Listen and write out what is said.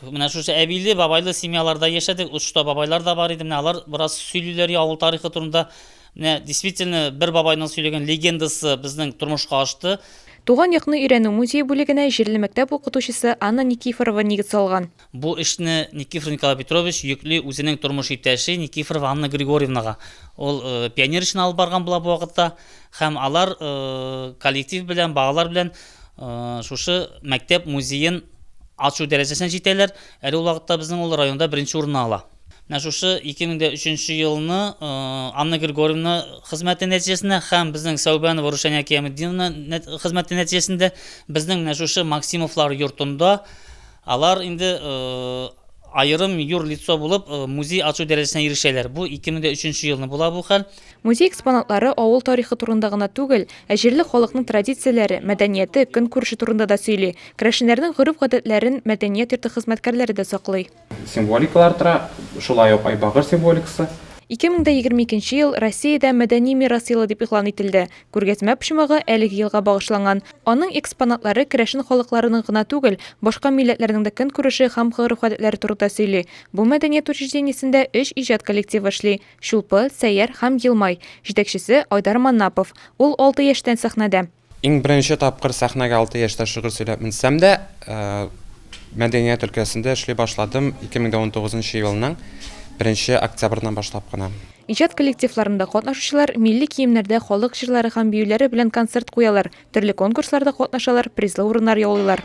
Менә шушы әбиле, бабайлы семьяларда яшәдек. Очта бабайлар да бар иде. Менә алар бераз сөйлиләр авыл тарихы турында. Менә действительно бер бабайның сөйләгән легендасы безнең тормышка ашты. Туган якны өйрәнү музее бүлегенә җирле мәктәп укытучысы Анна Никифорова нигез салган. Бу эшне Никифоров Николай Петрович йөкли үзенең тормыш иптәше Никифорова Анна Григорьевнага. Ул пионер эшен алып барган була бу вакытта. Һәм алар коллектив белән, балалар белән шушы мәктәп музеен ачу дәрәҗәсенә җитәләр. Әле ул вакытта безнең ул районда беренче урынны ала. Менә шушы 2003 елны Анна Григорьевна хезмәте нәтиҗәсендә һәм безнең Сәүбәнова Рушания Киямеддиновна хезмәте нәтиҗәсендә безнең менә шушы Максимовлар йортында Алар инде аерым юр лицо булып музей ачу дәрәҗәсенә ирешәләр. Бу 2003 елны була бу хәл. Музей экспонатлары авыл тарихы турында гына түгел, ә җирле халыкның традицияләре, мәдәнияте, көнкүреше турында да сөйли. Керәшеннәрнең гореф-гадәтләрен мәдәният йорты хезмәткәрләре дә саклый. Символикалар тора, шулай ук Айбагыр символикасы. 2022 ел Россиядә Мәдәни мирас елы дип игълан ителде. Күргәзмә почмагы әлеге елга багышланган. Аның экспонатлары керәшен халыкларының гына түгел, башка милләтләрнең дә көнкүреше һәм гореф-гадәтләре турында сөйли. Бу мәдәният учреждениесендә өч иҗат коллективы эшли, Чулпы, Сәйяр һәм Елмай. Җитәкчесе, Айдар Маннапов. Ул алты яшьтән сәхнәдә. Иң беренче тапкыр сәхнәгә алты яшьтә шигырь сөйләп менсәм дә, мәдәният өлкәсендә эшли башладым 2019 елның 1 октябреннән башлап кына. Иҗат коллективларында катнашучылар милли киемнәрдә халык җырлары һәм биюләре белән концерт куялар, төрле конкурсларда катнашалар, призлы урыннар яулыйлар.